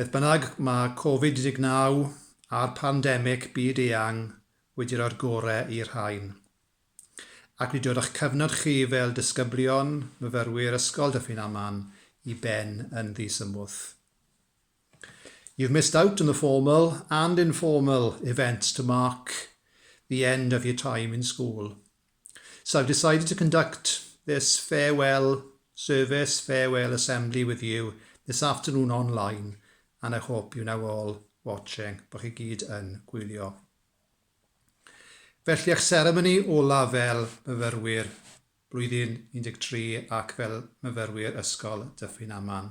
Beth bynnag, mae Covid 19 a'r pandemig byd-eang wedi rhoi'r gore i'r rhain. Ac wedi dod â'ch cyfnod chi fel disgyblion, myfyrwyr Ysgol Dyffryn Aman i ben yn ddisymwth. You've missed out on the formal and informal events to mark the end of your time in school. So I've decided to conduct this farewell service, farewell assembly with you this afternoon online and I hope you now all watching, bod chi gyd yn gwylio. Felly eich seremoni olaf fel myfyrwyr blwyddyn 13 ac fel myfyrwyr Ysgol Dyffryn Aman.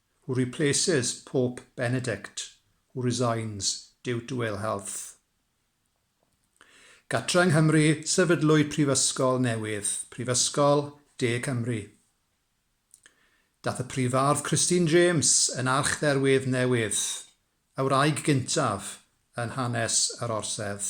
Who replaces Pope Benedict who resigns due to ill health? Gatre yng Nghymru, sefydlwyd prifysgol newydd, Prifysgol De Cymru. Dath y Prifardd Christine James yn archdderwydd newydd, y wraig gyntaf yn hanes yr Orsedd.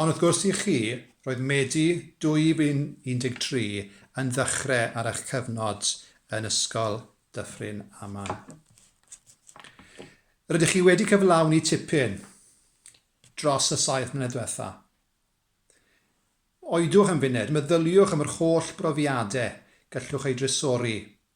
Ond wrth gwrs i chi, roedd Medi 2013 yn ddechrau ar eich cyfnod yn Ysgol Dyffryn Aman. Rydych chi wedi cyflawni tipyn dros y saith mlynedd diwetha'. Oedwch am funed, meddyliwch am yr holl brofiadau gallwch eu drysori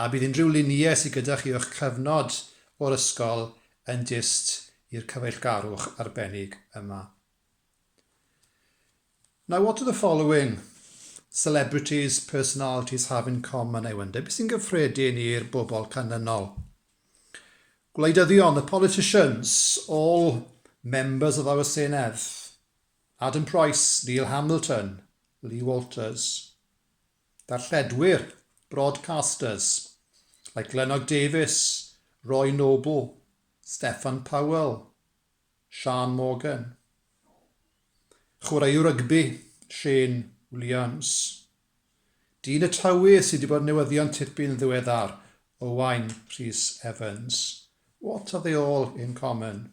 A bydd unrhyw luniau sydd gyda chi o'ch cyfnod o'r ysgol yn dyst i'r cyfeillgarwch arbennig yma. Now what do the following celebrities, personalities have in common, I wonder? Beth sy'n gyffredin i'r bobl canlynol? Gwleidyddion, the politicians, all members of our Senedd. Adam Price, Neil Hamilton, Lee Walters. Darlledwyr, broadcasters, like Glennog Davies, Roy Noble, Steffan Powell, Siân Morgan. Chwaraewr rygbi, Shane Williams. Dyn y Tywi sydd wedi bod yn newyddion tipyn ddiweddar, Owain Rhys Evans. What are they all in common?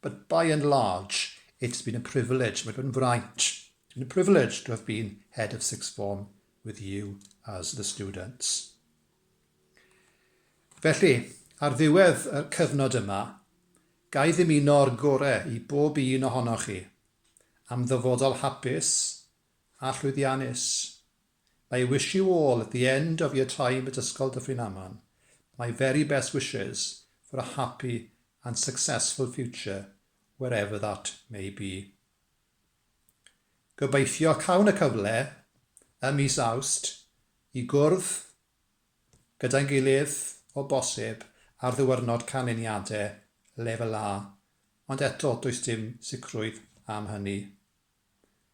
But by and large, it's been a privilege, mae wedi bod yn fraint, it's been a privilege to have been head of sixth form with you as the students. Felly, ar ddiwedd y cyfnod yma, gai ddymuno'r gore i bob un ohonoch chi am ddyfodol hapus a llwyddiannus. I wish you all at the end of your time at Ysgol Dyffryn Aman my very best wishes for a happy and successful future wherever that may be. Gobeithio cawn y cyfle ym mis Awst i gwrdd gyda'n gilydd o bosib ar ddiwyrnod canlyniadau Lefel A, ond eto does dim sicrwydd am hynny.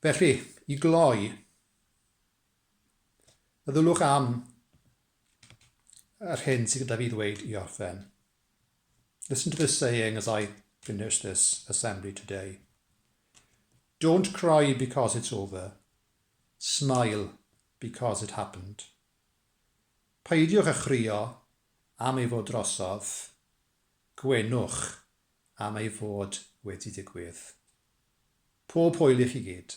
Felly, i gloi, meddylwch am yr hyn sydd gyda fi ddweud i orffen. Listen to this saying as I finish this assembly today. Don't cry because it's over. Smile because it happened. Peidiwch â chrio am ei fod drosodd. Gwenwch am ei fod wedi digwydd. Pob hwyl i chi gyd.